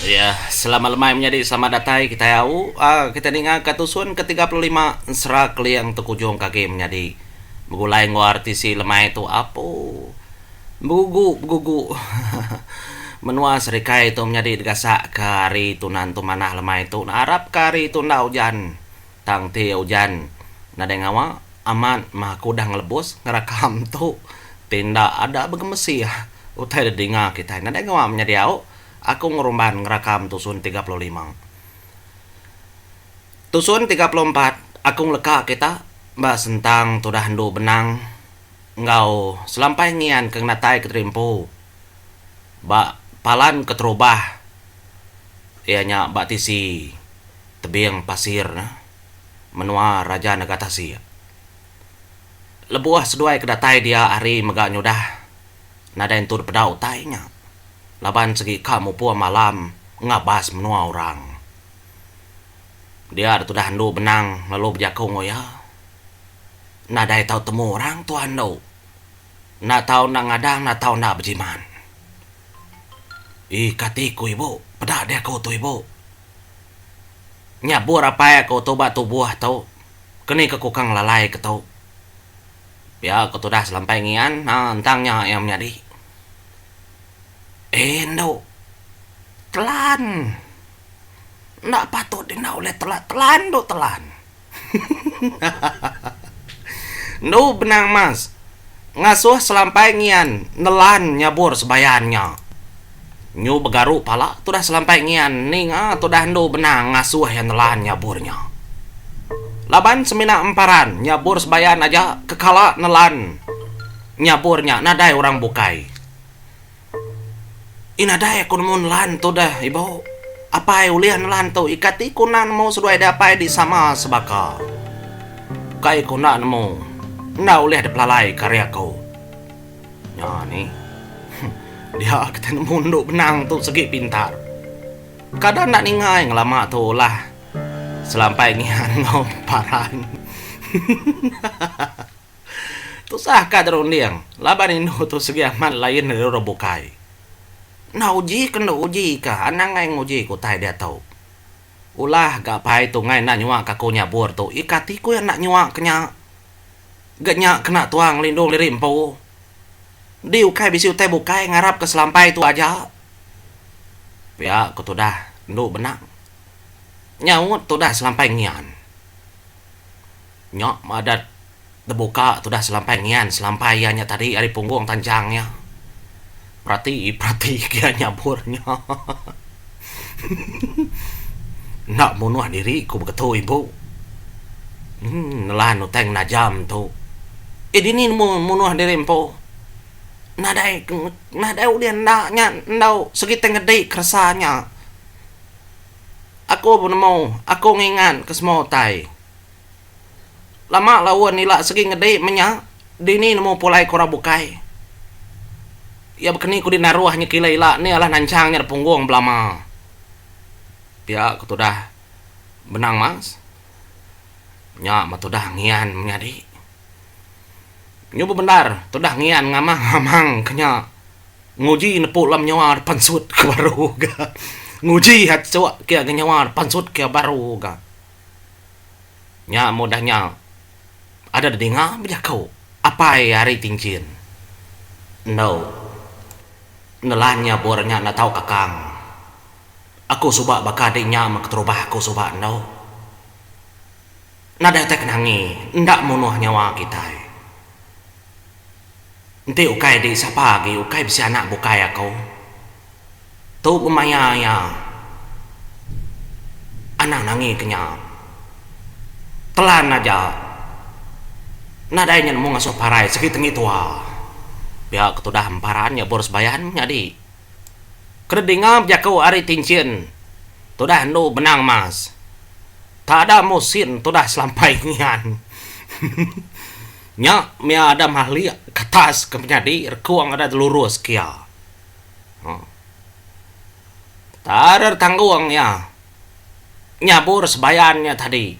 Ya, selamat lemai menyadi selamat datai kitai au. Um kitai ninga ka tusun ke tiga puluh lima ensera keling tekujungka agi menyadi begulai enggau RTC lemai tu apu begugu begugu menua serikai tu menyadi digasaka hari tuna entu manah lemai tu naarapka hari tu enda ujan tang ti ujan nadai ngawa amat maha ke udah ngelebus ngerakam tu ti enda ada begemesi utai didinga kitai nadai ngawa menyadi au. Aku ngerumban ngerakam tusun tiga puluh lima. Tusun tiga puluh empat aku ngeleka kita ba sentang tudah endu benang enggau selampai ngian ke ngenatai keterimpu ba palan keterubah iya nya ba tisi tebing pasir ne menua Raja Nagatasik. Lebuh seduai ke datai dia hari mega nyudah. nadai entur peda utai nya laban segi ka mupung malam ngabas menua orang. Dia da tudah andu benang lalu bejaku enggau iya, Nadai tau temu orang tuan andu. Enda tau enda ngadang enda tau enda bejimat. Ih kati ku ibu, peda deh aku tu ibu. Nya bur apai aku tu ba tubuh tu, keni ke ku ka ngelalai ke tu. Pia ku tudas lampai ngian entang nya iya menyadi. Indu telan enda patut dina ulih telan telan indu telan. Endu benang mas ngasuh selampai ngian nelan nyabur sebayan nya. Nyu begaru pala tudah selampai ngian ninga tudah endu benang ngasuh iya nelan nyabur nya. Laban semina emparan nyabur sebayan aja ke kala nelan nyabur nya nadai orang bukai. Ih nadai aku nemu nelan tudah ibu apai ulih nelan tu ika ti ku enda nemu seduai deh apai di sama sebaka. Ukai ku enda nemu enda ulih dipelalai ke ari aku. Nya ni. Dia kita nemu endu benang tu segi pintar. Kada enda ningai ngelama tu lah. Selampai ngian enggau paran. Tusah ka dirunding laban indu tu segi amat lain ari orang bukai. Enda uji ke enda uji ka anang ai nguji ke utai diatu. Ulah ga pai tungai enda nyuaka aku nyabur tu ika ti ku iya enda nyuaka nya. Ga nya kena tuang ngelindung diri empu. Di ukai bisi utai bukai ngarapka selampai tu aja. Pia ku tudah endu benang nyaut tudah selampai ngian. Nya madah tebuka tudah selampai ngian selampai iya nya tadi ari punggung tanjang iya. Perati, perati gia nyabur nya. Enda munuh diri ku begetu ibu. Uhh nelan utai ngena jam tu. Eh dini nemu munuh diri empu. Nadai nadai ulih enda nya enggau segi tai ngedi keresa nya. Aku penemu, aku ngingat ke semua utai. Lama laun ila sigi ngedi menya dini nemu pulai ke orang bukai. Iya bekeni kudi naruh nyekila ila nih alah nanchang nya depunggung belama. Pia ku tudah benang mas. Nya mah tudah ngian menyadi. Nyu bebendar tudah ngian ngamang-ngamang ke nya nguji nepu alam nyawa da pansut ke baru ga. Nguji aja ke nyawa da pansut ke baru ga. Nya amu udah nya ada da dinga bejaku apai ari Tinjin. Endo nelan nya bor nya enda tau kakang. Aku suba baka adi nya meh keterubah aku suba endo. Nadai utai kenangi enda munuh nyawa kitai. Enti ukai di sapa agi ukai bisi anak bukai aku. Tu gemaya iya anang angi ke nya. Telan aja nadai nya nemu ngasuh parai segi tengi tua. Pia ke tudah emparan nyebur sebayan nyadi kena dinga bejaku ari tinchin tudah endu benang mas. Tada musin tudah selampai ngian. Nya mia ada mahlik katas ke menyadi rekung adat lurus kia. Huh. Tarer tanggung iya nyabur sebayan nya tadi.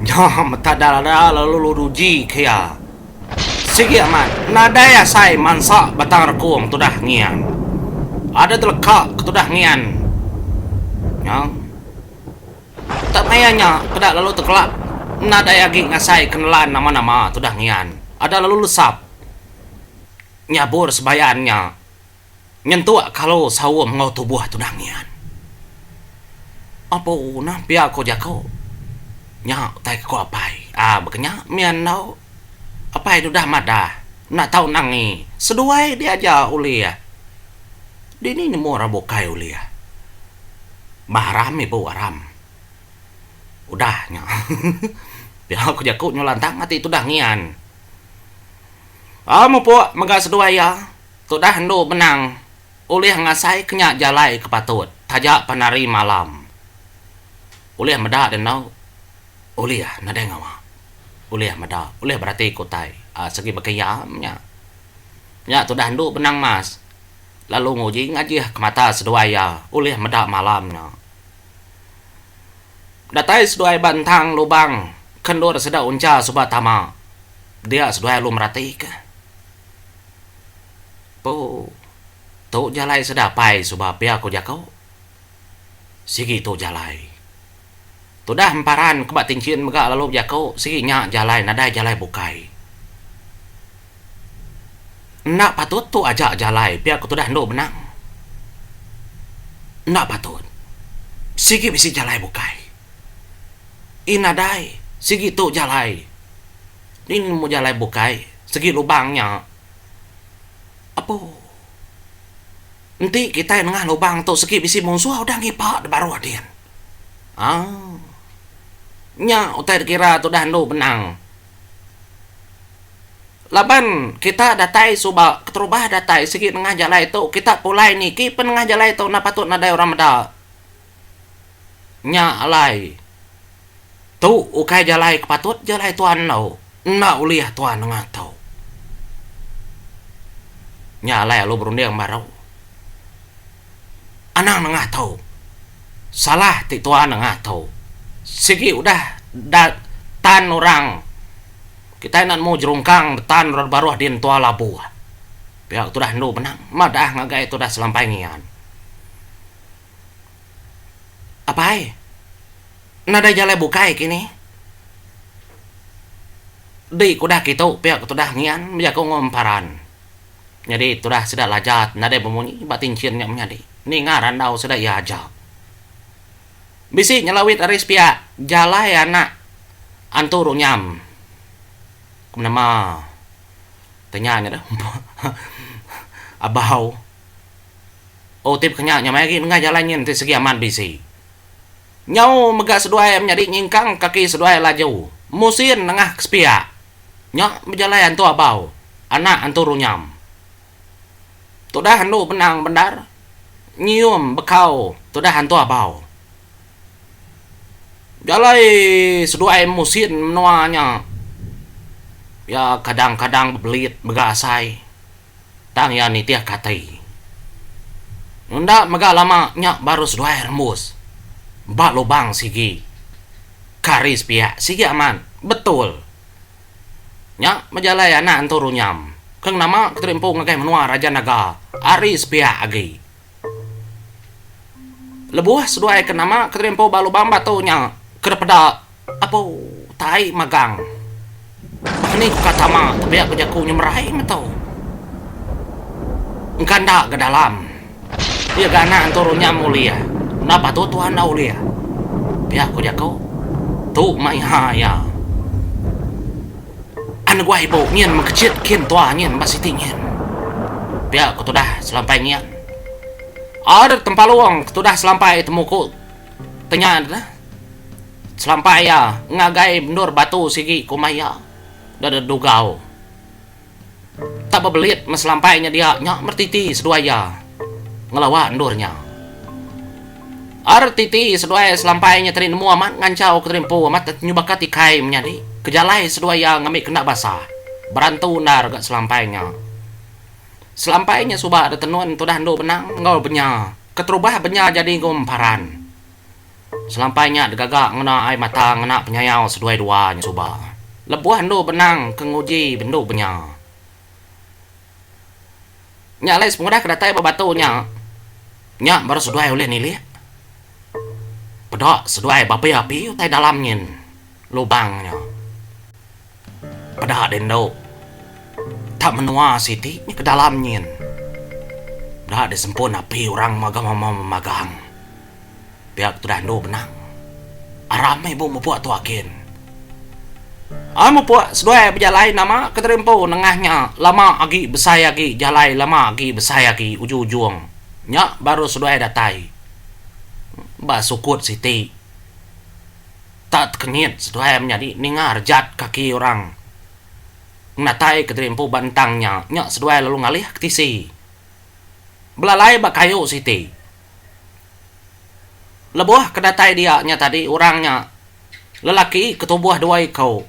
Nya meta dara lalu luduji ke iya. Sigi amat, nadai asai mansa batang rekung tudah ngian. Ada teleka ke tudah ngian. Nya. Tak maya nya, peda lalu tekelak nadai agi ngasai ke nelan nama-nama tudah ngian. Ada lalu lesap nyabur sebayan nya nyentuk kalu saum enggau tubuh tudah ngian. Apu nah pia ku jaku. Nya utai ke ku apai. Aa baka nya mih andau apai deh udah madah enda tau nangi seduai diaja ulih. Dini nemu orang bukai ulih. Bah aram ibu aram. Udah nya. Pia ku jaku nyau lantang ati tudah ngian. Au mupuk mega seduai iya, tudah endu benang ulih ngasai ke nya jalai ke patut taja pan hari malam. Ulih meda deh endu. Ulih nadai ngawa. Ulih meda, ulih berati ke utai. Segi baka iya meh nya. Nya tudah endu benang mas. lalu nguji ngajih ke mata seduai iya ulih meda malam nya. Datai seduai ba entang lubang ke endur sida uncha suba tama, dia seduai alu meratika. Pu, tu jalai sida apai suba pia ku jaku. Sigi tu jalai. Tudah emparan ke ba Tinchin mega lalu bejaku sigi nya jalai nadai jalai bukai. Enda patut tu aja jalai pia ku tudah endu benang. Enda patut. Sigi bisi jalai bukai. Ih nadai sigi tu jalai. Ni nemu jalai bukai sigi lubang nya. Apu. Enti kitai nengah lubang tu sigi bisi munsuh udah ngipa deh baruh din. Aaa. Nya utai dikira tu udah endu benang. Laban kita datai suba keterubah datai sigi nengah jalai tu kita pulai niki pen nengah jalai tu enda patut nadai orang meda. Nya alai. Tu ukai jalai ke patut je alai tuan enggau enda ulih tuan nengah tu. Nya alai alu berunding baru. Anang nengah tu. Salah ti tuan nengah tu. Sigi udah da tan orang kitai enda nemu jerungkang da tan orang da baruh din tua labuh. Pia ke tudah endu benang. Madah ngagai tudah selampai ngian. Apai, nadai jalai bukai ke ini. Di ke udah kitu pia ke tudah ngian bejaku enggau emparan. Nyadi tudah sida Lajat nadai bemunyi ba tinchin nya menyadi ninga randau sida iya aja. Bisi nyelawit ari sepia jalai anak Antu Runyam ke menema ke nya ngadah Abau. Otip kenya nya maya agi nengah jalai nyin ti segi amat bisi. Nyau mega seduai menyadi nyingkang kaki seduai laju musin nengah ke sepiak nya bejalai antu abau anak antu runyam. Tudah andu benang bendar nyium bekau tudah antu abau. Jalai seduai musin menua nya iya kadang-kadang bebelit mega asai. tang iya nitihka ati. Enda mega lama nya baru seduai rembus ba lubang sigi. Kari sepiak sigi amat betul. Nya bejalai anak entu runyam. Keng nama ke teri empu ngagai menua Raja Naga ari sepiak agi. Lebuh seduai ke nama kerimpau ba lubang batu nya ke dipeda apu tai magang. Mani ka tama tebiak bejaku nyemerai metu. Engka enda ga dalam. Iya ga anak entu runyam ulih. Enda patut tuan enda ulih. Pia ku jaku tu maiha iya. Anuguai ibu nyin mengkechit kin tua nyin ba siti nyin. Pia ke tudah selampai nyin. Adat Tempalung ke tudah selampai temu ku tenya deda. Selampai iya ngagai endur batu sigi kuma iya deda Dugau. Tak bebelit meh selampai nya dia nya mertiti seduai iya ngelawa endur nya. Rtiti seduai selampai nya tadi nemu amat nganchau ke tadi empu amat ati nyubaka ti kai menyadi ke jalai seduai iya ngambi ke enda basa. Berantu endar ga selampai nya. Selampai nya suba ada tenun tudah endu benang enggau benya keterubah benya jadi enggau emparan. Selampai nya degaga ngena ai mata ngena penyayau seduai dua nya suba. Lebuh endu benang ke nguji bendu benya. Nya alai sepengudah ke datai ba batu nya, nya baru seduai ulih nilih peda seduai ba api-api utai dalam nyin lubang nya. Peda deh endo. Tak menua siti nyeh ke dalam nyin. Enda deh sempun api orang mega mema magang. Pia ke tudah endu benang. Aram meh ibu mepuk tu agin. Ai mepuk seduai bejalai nama ke tadi empu nengah nya lama agi besai agi jalai lama agi besai agi ujung-ujung nya baru seduai datai ba sukut siti. Tak tekenyit seduai menyadi ninga rejat kaki orang ngenatai kederimpu ba entang nya, nya seduai lalu ngalih ke tisi belalai ba kayu siti. Lebuh ke datai dia nya tadi orang nya lelaki ke tubuh dua iku.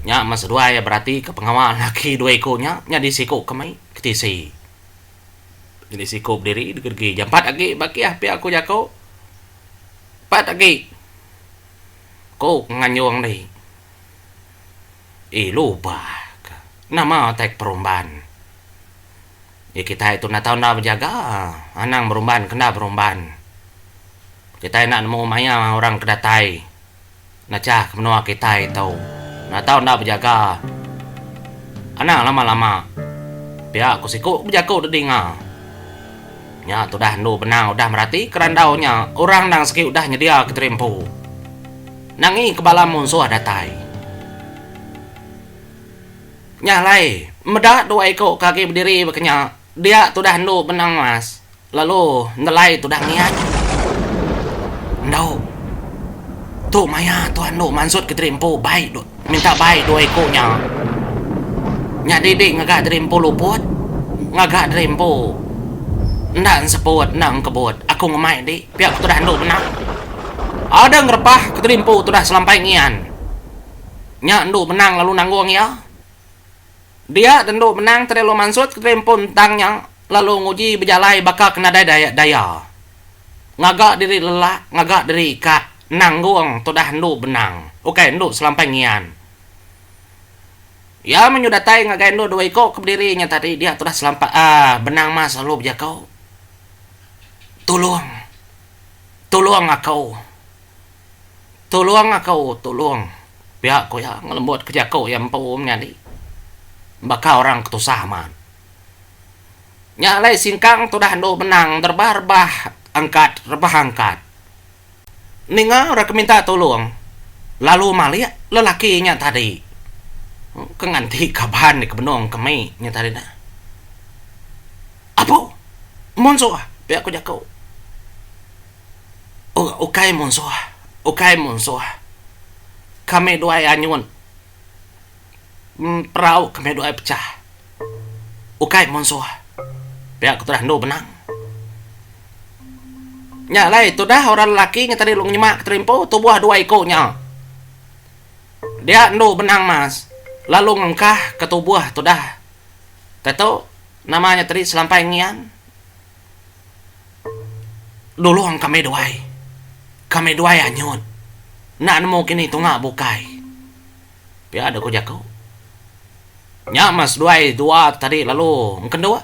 Nya meh seduai beratika pengawa lelaki dua iku nya nyadi siku ke mai ke tisi. Nyadi siku bediri degedegi jampat agi ba kiah pia ku jaku. Pat agi. Ku Nganyung deh. Eh lupa ka. Nama utai ke perumban. Ye kitai tu enda tau enda bejaga. Anang berumban ke enda berumban. Kitai enda nemu maya orang ke datai. Ngachah ke menua kitai tu enda tau enda bejaga. Anang lama-lama pia ku siku bejaku dudi enga. Nya tudah endu benang udah merati ke randau nya orang endang sigi udah nyedia ke diri empu. Nangi ke bala munsuh datai. Nya alai meda dua iku ke agi bediri ba ke nya dia tudah endu benang mas. Lalu nelai tudah ngian. Endauk. Tu maya tuan endu mansut ke diri empu bai du minta bai dua iku nya. Nyadi di ngaga diri empu luput, ngaga diri empu enda enseput enda engkebut. Aku ngemai di pia ku tudah endu mena. Adang repah ke diri empu tudah selampai ngian. Nya endu menang lalu nanggung iya. Dia tentu menang tadi lalu mansut ke kelimpun entang nya lalu nguji bejalai baka ke nadai daya daya. Ngaga diri lelak, ngaga diri ikak, nanggung tudah endu benang, ukai endu selampai ngian. Iya menyu datai ngagai endu dua iko ke bediri nya tadi dia tudah selampai aaa benang mas lalu bejako, Tulong. Tulong ako. Tulung aku tulung pia ku iya ngelembut ke jaku iya empu menyadi baka orang ke tusah amat. Nya alai singkang tudah andu benang rebah rebah angkat rebah angkat. Ninga orang ke minta tulung lalu malik lelaki nya tadi ke nganti kaban ke benung ke mih nya tadi dah. Apo munsuh pia ku jaku. Ukai munsuh, ukai munsuh. Kami duai anyun perau kami duai pecah. Ukai munsuh. Pia ku tudah andu benang. Nya alai tudah orang lelaki ngitang diri lu ngenyema ke tali empu tubuh dua iku nya. Dia andu benang mas lalu ngengkahka tubuh tudah. Tantu nama nya tadi selampai ngian. Nulung kami duai. Kami duai anyut. Enda nemu kini tunga bukai. Pia deh ku jaku. Nya meh seduai dua tadi lalu engkendu.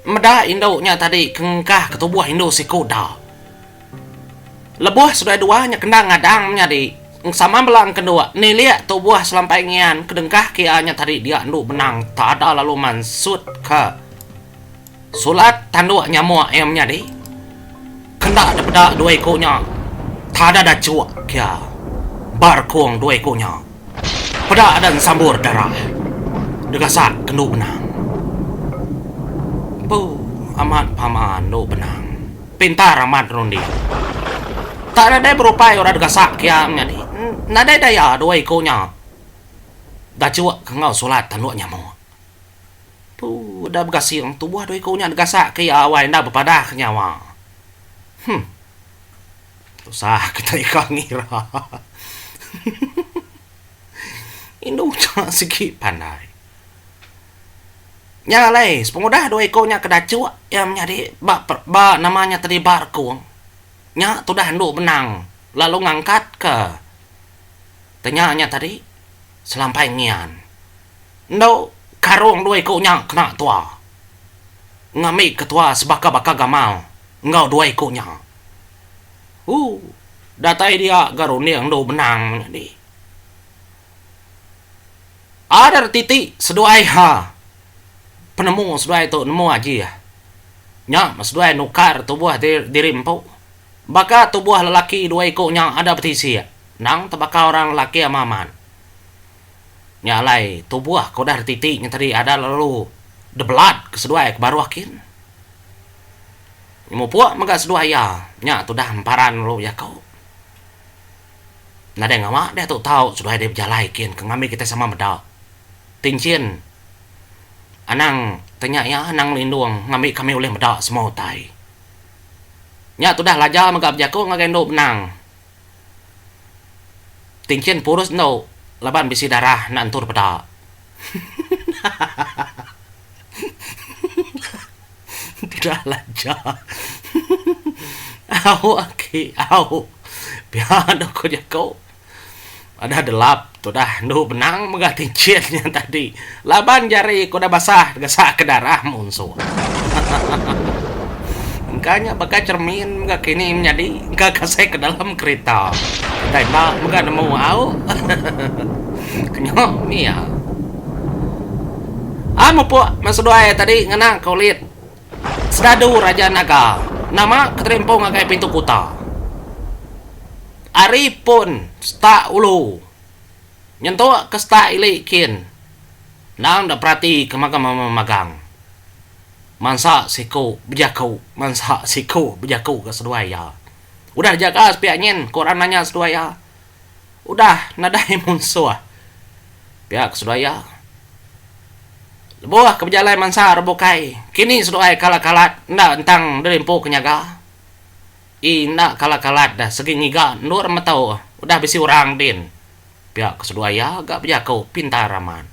Meda indu nya tadi ke ngengkah ke tubuh indu siku da. Lebuh seduai dua nya kenda ngadang menyadi sama bela engkendu nilik tubuh selampai ngian ke dengkah ke iya nya tadi dia endu benang tada lalu mansutka. Sulat tanduk nyamuk iya menyadi. Kenda depeda dua iku nya. Tada dachuk kia. Barkung dua iku nya. Peda ada ensambur darah. Degasak kendu benang. Empu amat pama endu benang. Pintar amat runding. Tak nadai berupai orang degasak kia menyadi. Nadai daya dua iku nya dachuk ke enggau sulat tanduk nyamuk. Tu udah begasing tubuh dua iku nya digasak ke iya awai enda bepadah ke nyawa. Huh. Tusah ke tai ka ngira. Hehehe. Indu cha sigi pandai. Nya alai sepengudah dua iku nya ke dachuk iya menyadi ba ba nama nya tadi ba rekung nya tudah andu benang lalu ngangkat ke tenya nya tadi selampai ngian. Enda karung dua iku nya kena tua. Ngambi ketua sebaka-baka gamal enggau dua iku nya. Ooh datai dia ga runding endu benang nyadi. Ader titi seduai ha penemu seduai tu nemu aji ah. Nya seduai nukar tubuh diri empu. Baka tubuh lelaki dua iku nya ada betisik endang tebaka orang lelaki amat-amat. nya alai tubuh ke udah dititi nya tadi ada lalu the blood ke seduai ke baruh kin mupuk mega seduai iya nya tu udah emparan lalu jaku nadai ngawa diatu tau seduai dei bejalai kin ke ngambi kita sama meda ti enchin anang ti nya iya anang lindung ngambi kami ulih meda semua utai nya tu udah laja mega bejaku ngagai endu benang. Tinchin purus endo laban bisi darah enda entur peda. Pida laja. Au aki au. Pia endo ko jaku. Adah delap tu dah endu benang mega ti encit nya tadi. Laban jari ku dah basah tegesa ke darah munsuh. Engka nya baka cermin mega kini menyadi engka kasih ke dalam kerita. Utai enda mega nemu au. Kenyo mia. Ah mupuk meh seduai tadi ngena ke ulit. Sedadu Raja Naga. Nama ke terimpung ngagai pintu kuta. Ari pun setak ulu nyentuk ke setak ili kin endang da perati ke magang mama magang mansa siku bejaku mansa siku bejaku ga seduai iya udah jaga sepiak nyin ku orang nanya seduai iya udah nadai munsuh pia ku seduai iya lebuh ke bejalai mansa orang bukai kini seduai kalat kalat enda ntang derimpu ke nyaga. Ii enda kala kalat dah segi ngiga endur metau udah bisi orang din pia ke seduai iya ga bejaku pintar amat.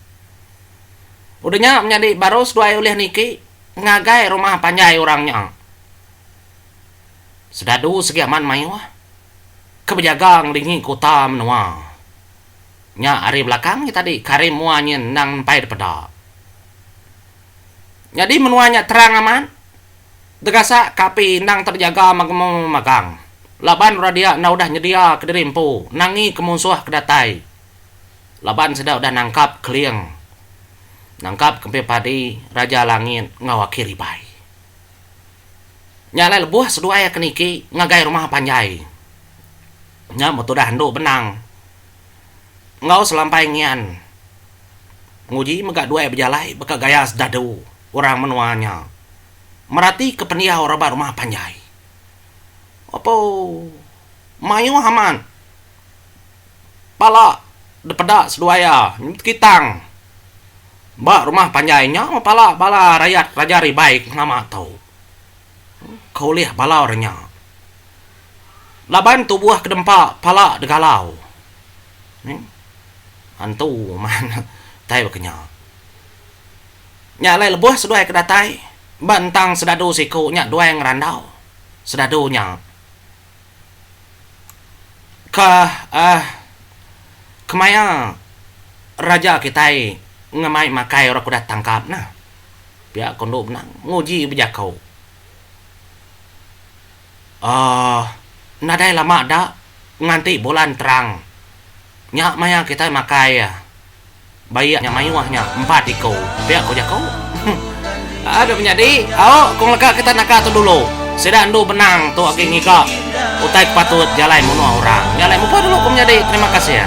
Udah nya menyadi baru seduai ulih niki ngagai rumah panjai orang nya. Sedadu segi amat mayuh ke bejaga ngelingi kuta menua nya ari belakang iya tadi Karim mua nyin endang nempai dipeda. Nyadi menua nya terang amat. Degasa ka api endang terjaga magemu magang. Laban orang dia enda udah nyedia kediri empu nangi ke munsuh ke datai laban sida udah nangkap Keling, nangkap Kempin Padi, Raja Langit enggau Aki Ribai. Nya alai lebuh seduai ke niki ngagai rumah panjai. Nya metudah endu benang. enggau selampai ngian nguji mega duai bejalai baka gaya sedadu orang menua nya meratika pendiau raban rumah panjai. Apo mayuh amat pala dipeda seduai iya nyebut kitang ba rumah panjai nya mepala bala rayat raja Ribai ke nama tu. ke ulih bala orang nya. Laban tubuh ke dempa pala degalau. Antu man tai baka nya. Nya alai lebuh seduai ke datai ba entang sedadu siku nya duai ngerandau sedadu nya. Ka uhh kemaya raja kitai ngemai makai orang ke udah tangkap nah. Pia ko endo benang nguji bejako. uhh nadai lama da nganti bulan terang nya maya kitai makai iya. Bayak nya mayuh nya empat iko pia ko jako. Haa dok menyadi aok kong leka kita naka tu dulu. Sida endu benang tu agi ngiga utai ke patut ja alai munuh orang. Nya alai muka dulu ko menyadi terima kasih.